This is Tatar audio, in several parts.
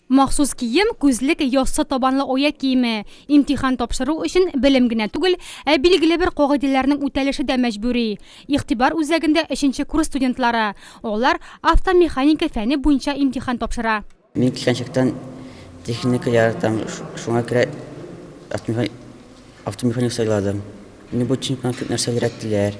Махсус кием, күзлек, яссы табанлы оя киеме. Имтихан тапшыру өчен белем генә түгел, ә билгеле бер кагыйдәләрнең үтәлеше дә мәҗбүри. Игътибар үзәгендә өченче курс студентлары. Алар автомеханика фәне буенча имтихан тапшыра. Мин кичкәнчектән техника яратам, шуңа күрә автомеханик сайладым. Мине бу чемпионат күп нәрсә өйрәттеләр.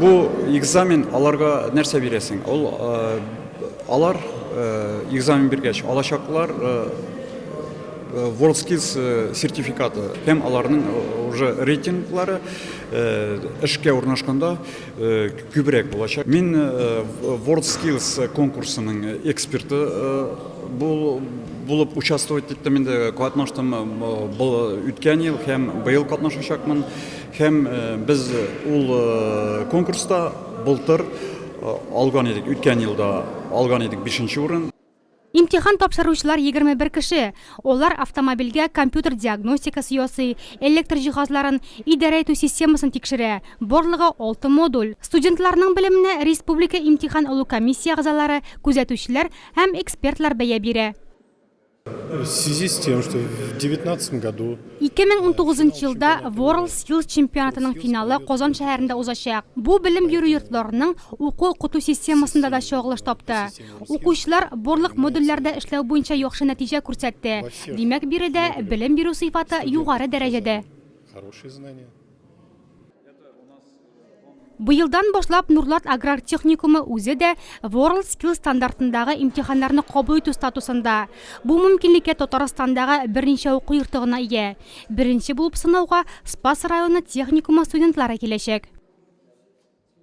Бу экзамен аларга нәрсә бирәсең? Ул алар экзамен биргәч алачаклар WorldSkills сертификаты һәм аларның уже рейтинглары эшкә урнашканда күбрәк булачак. Мин WorldSkills конкурсының эксперты булып участвовать иттем инде, катнаштым үткән ел һәм быел катнашачакмын. Һәм без ул конкурста былтыр алган идек, үткән елда алган идек бишенче урын. Имтихан тапшыручылар егерме бер кеше. Алар автомобильгә компьютер диагностикасы ясый, электр җиһазларын, идарә итү системасын тикшерә. Барлыгы алты модуль. Студентларның белеменә республика имтихан алу комиссия әгъзалары, күзәтүчеләр һәм экспертлар бәя бирә. 2019 елда World Skills чемпионатының финалы Казан шәһәрендә узачак. Бу белем бирү йортларының уку-укыту системасында да чагылыш тапты. Укучылар барлык модульләрдә эшләү буенча яхшы нәтиҗә күрсәтте. Димәк, биредә белем бирү сыйфаты югары дәрәҗәдә. Быелдан башлап Нурлат аграр техникумы үзе дә World Skill стандартындагы имтиханнарны кабул итү статусында. Бу мөмкинлеккә Татарстандагы берничә уку йорты гына ия. Беренче булып сынауга Спас районы техникумы студентлары киләчәк.